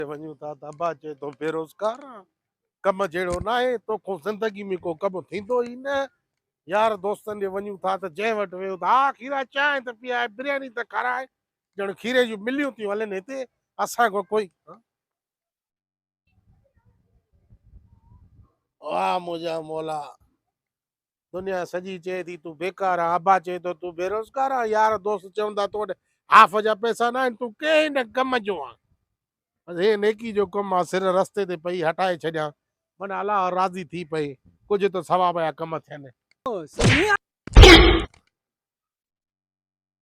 تي وڃون ٿا ته ابا چئي ٿو بيروزگار آن ڪم جهڙو ناهي توکون زندگي ۾ ڪو ڪم ٿيندو ئي نه يار دوستن ڏي وڃون ٿا ته جنهن وٽ ويو ته آء کيرا چانهه ته پيئائي برياني ته کارائي ڄڻ کيري جون مليون ٿيون هلن هتي اسان کان ڪوئي واھ منهنجا مولا دنيا سڄي چئي ٿي تون بيڪار آن ابا چئي ٿو تون بيروزگار آن يار دوست چون ٿا تو وٽ هاف جا پئسا ناهن تون ڪنهن نه ڪم جو آن بس هي نيڪي جو ڪم آن سر رستي تي پئي هٽائي ڇڏيان من الله راضي ٿي پئي ڪجهه ته ثواب جا ڪم ٿين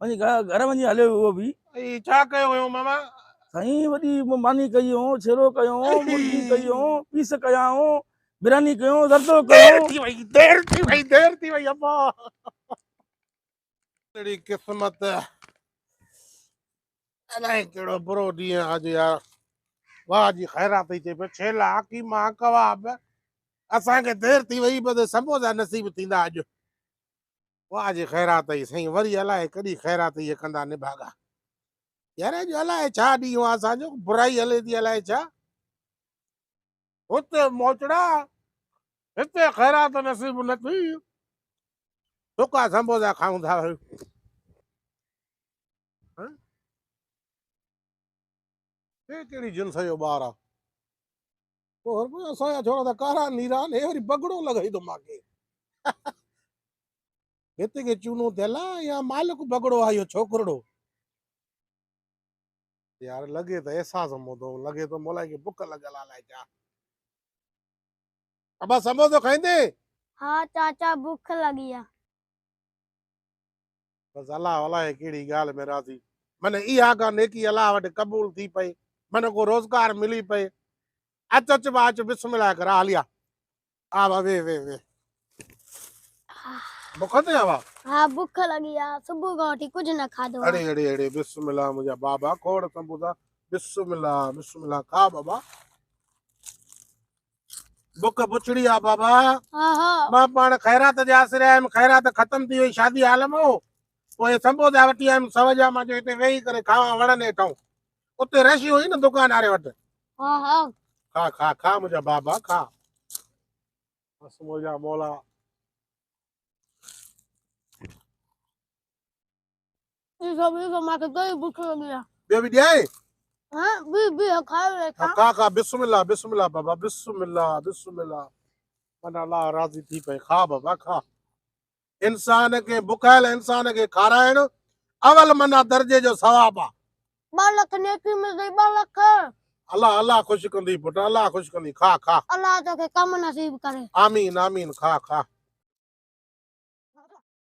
وڃي گهر وڃي هليو اهو به اي ڇا ڪيو هيو ماما سائين وڏي ماني ڪئي هو ڇيرو ڪيو هو مرغي ڪئي هو پيس ڪيا هو براني ڪيو هو زردو ڪيو ٿي وئي دير ٿي وئي دير ٿي وئي ابا تڙي قسمت الائي ڪهڙو برو ڏينهن آج يار واهه جي خيرات ٿي چئي پيو ڇيلا حڪيما ڪواب اسان کي دير ٿي وئي بس سموسا نصيب ٿيندا اڄ واهه جي خيرات اي سائين وري الائي ڪڏي خيرات اي ڪندا نڀاڳا يار اڄ الائي ڇا ڏينهن آ اسان جو برائي هلي ٿي الائي ڇا هت موچڙا هت خيرات نصيب نه ٿي سڪا سمبوسا کائون ٿا ڪهڙي جنس جو ٻار آ هربا اسان جا ڇوڙا ته ڪارا نيران هي وري بگڙو لڳائي ٿو ماکي هت کي چونو ٿيل آهي يا مالڪ بگڙو آهي اهو ڇوڪرڙو يار لڳي ته احساس موتو لڳي ٿو مولائي کي بک لڳل آ لائي چا ابا سموسو کائيندين ها چاچا بک لڳي آ بس الله الاهي ڪهڙي ڳالهه ۾ راضي من اها ڪا نيڪي الله وٽ قبول ٿي پئي من ڪو روزگار ملي پئي اچ اچ با اچ بسم الله ڪر آليا آ با وي وي وي بک تي آوا ها بک لڳي آ صبح کان وٺي ڪجهه نه کاڌو اڙي اڙي اڙي بسم الله منهنجا بابا کوڙ سمبوسا بسم الله بسم الله کا بابا بک بڇڙي آ بابا مان پاڻ خيرات جي آسري آيم خيرات ختم ٿي وئي شادي عالم هو پوء سنبو جا وٽي آيم سو جا مان جو هتي ويهي ڪري کاوان وڻن هيٺون اتي رش هئي نه دڪان واري وٽ ها ها کا کا کا منهنجا بابا کا بس منهنجا مولا ٻيو به ڏيانء؟ کا کا بسم الله بسم الله بابا بسم الله بسم الله من الله راضي ٿي پئي کا بابا کا انسان کي بکايل انسان کي کارائڻ اول منا درجي جو ثواب آ بالک نيڪي ۾ گئي بالک الله الله خوش ڪندي پٽ الله خوش ڪندي کا کا الله توکي ڪم نصيب ڪري آمين آمين کا کا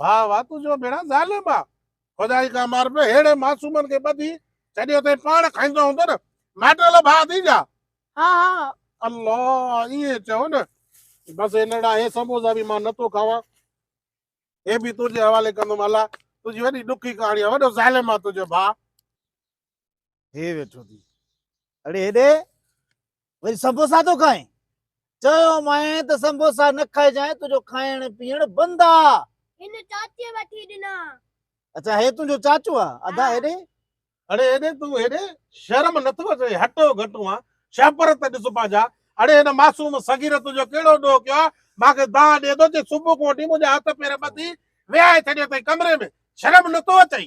ڀاء وا تنهنجو ڀيڻا ظالم آ. خدائي کا مار پي ههڙي معصومن کي ٻڌي ڇڏي اٿئي پاڻ کائيندو هوندو نه مائٽل ڀاء ٿي جا. ها ها الله ائين چئو نه. بس هي نڙا هي سموسا به مان نه ٿو کاوان هي به تنهنجي حوالي ڪندم الله تنهنجي وڏي ڏکي ڪهاڻي آ وڏو ظالم آ تنهنجو ڀاء. هي ويٺو ٿي اڙي هيڏي وري سمبوسا ٿو کائين چيومانء ته سمبوسا نه کائجانء تنهنجو کائڻ پيئڻ بند آ هن چاچي وٺي ڏنا اچا هي تنهنجو چاچو آ ادا هيڏي اڙي هيڏي تون هيڏي شرم نٿو اچي هٽو گهٽو آ شهپر ته ڏس پنهنجا اڙي هن معصوم صغير تنهنجو ڪهڙو ڏوهه ڪيو آ مانکي دانهن ڏي ٿو جي صبح کان وٺي منهنجا هٿ پير ٻڌي ويهائي ڇڏيو اٿئي ڪمري ۾ شرم نٿو اچئي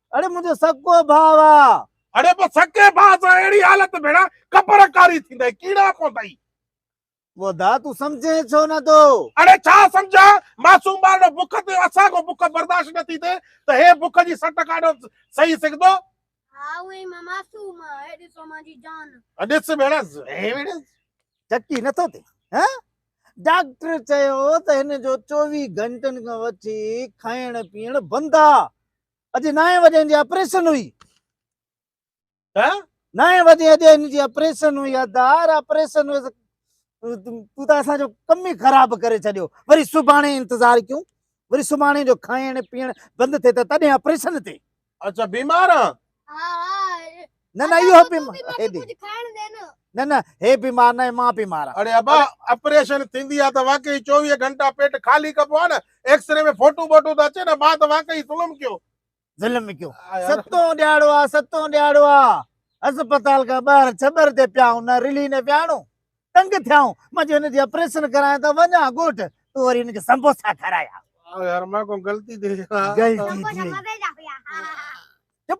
اڙي منهنجو سڪو ڀاء آ. اڙي پو سڪي ڀاء سان اهڙي حالت ڀيڻا ڪپر ڪاري ٿيندئي ڪيڙا پوندئي. ودا تون سمجهين ڇو نه ٿو. اڙي ڇا سمجهان معصوم ٻارڙو بک تي اسان کون بک برداشت نه ٿي ٿئي ته هي بک جي سٽ ڪاڏو سهي سگهندو. ها هونء ئي مان معصوم آ هي ڏسو مانجي جان. ڏس ڀيڻا هي ويڙهي. چڪي نه ٿو ٿئي ها ڊاڪٽر چيو ته هن جو چوويهه گهنٽن کان وٺي کائڻ پيئڻ بند آ اڄ نائين وڄي هن جي آپريشن هئي ها نائين وڄي اڄ هن جي آپريشن هئي ادار آپريشن هئي تون ته اسان جو ڪم ئي خراب ڪري ڇڏيو وري سڀاڻي انتظار ڪيون وري سڀاڻي جو کائڻ پيئڻ بند ٿئي ته تڏهن آپريشن تي اچا بيمار آ نه نه اهو بي نه نه هي بيمار نه مان بيمار آهي اڙي ابا اپريشن ٿيندي آ ته واقعي 24 گهنٽا پيٽ خالي ڪبو آ نه ايڪس ري ۾ فوٽو بوٽو ته اچي نه مان ته واقعي ظلم ڪيو ظلم ڪيو ستون ڏياڙو آ ستون ڏياڙو آ اسپتال کان ٻاهر ڇٻر تي پيا آهيون نه رلي نه وياڻو تنگ ٿيا آهيون مان جو هن جي آپريشن ڪرايان ته وڃان ڳوٺ تو وري هن کي سمبوسا کارايا يار مان ڪو غلطي ٿي غلطي ٿي چپ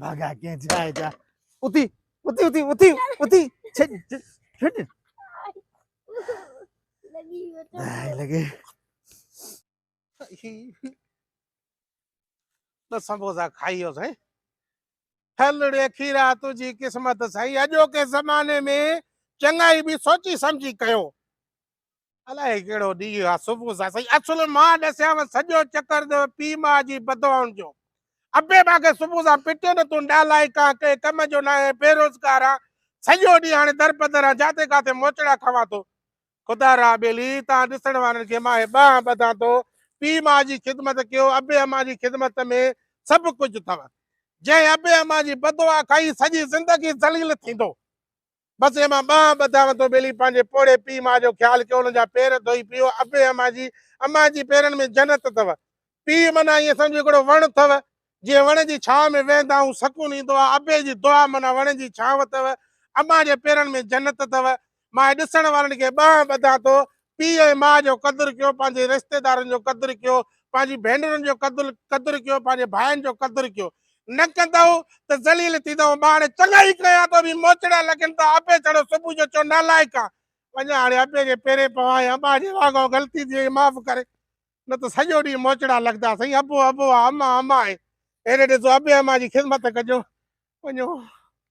ڀاڳا ڪنهن جاء جا اٿي اٿي اٿي اٿي اٿي ڇڏ ڇڏ لڳي لڳي ٻه سموسا کائي ويو سائين هلڙي کيرا تنهنجي قسمت سائين اڄوڪي زماني ۾ چڱائي به سوچي سمجهي ڪيو الائي ڪهڙو ڏينهن آ صبح سان سائين اصل مان ڏسيانو سڄو چڪر ته پيء ماء جي بدوائن جو ابي مان کي صبح سان پٽيو نه تون نالائق آ ڪنهن ڪم جو ناهي بيروزگار آ سڄو ڏينهن هاڻي درپدر آ جاتي ڪاتي موچڙا کاوان ٿو خدا را ٻيلي تان ڏسڻ وارن کي مان هي ٻانهن ٻڌان ٿو پيء ماء جي خدمت ڪيو ابي امان جي خدمت ۾ سڀ ڪجهه اٿو جنهن ابي امان جي بدوعا کائي سڄي زندگي ذليل ٿيندو بسيء مان ٻانهن ٻڌائون ٿو ٻيلي پنهنجي پوڙهي پيء ماء جو خيال ڪيو انهن جا پير ڌوئي پيئو ابي امان جي امان جي پيرن ۾ جنت اٿو پيء منا ائين سمجهه هڪڙو وڻ اٿو جنهن وڻ جي ڇانو ۾ ويهندا آهيون سڪون ايندو آهي ابي جي دعا منا وڻ جي ڇانو اٿو امان جي پيرن ۾ جنت اٿو مان ڏسڻ وارن کي ٻانهن ٻڌان ٿو پيء ۽ ماء جو قدر ڪيو، پنهنجي رشتيدارن جو قدر ڪيو، پنهنجي ڀينرن جو قدر قدر ڪيو، پنهنجي ڀائن جو قدر ڪيو. نه ڪندؤ ته ذليل ٿيندؤ. ماء هاڻي چڱائي ڪيان ٿو به موچڙا لڳن ٿا. ابي چڙهيو صبح جو چيو نالائق آن. وڃان هاڻي ابي جي پيرين پوان يا ماء جي واڳون غلطي ٿي وئي معاف ڪري. نه ته سڄو ڏينهن موچڙا لڳندا. سائين ابو ابو آ امان امان آهي. هيڏي ڏسو ابي امان جي خذمت ڪجو. وڃو.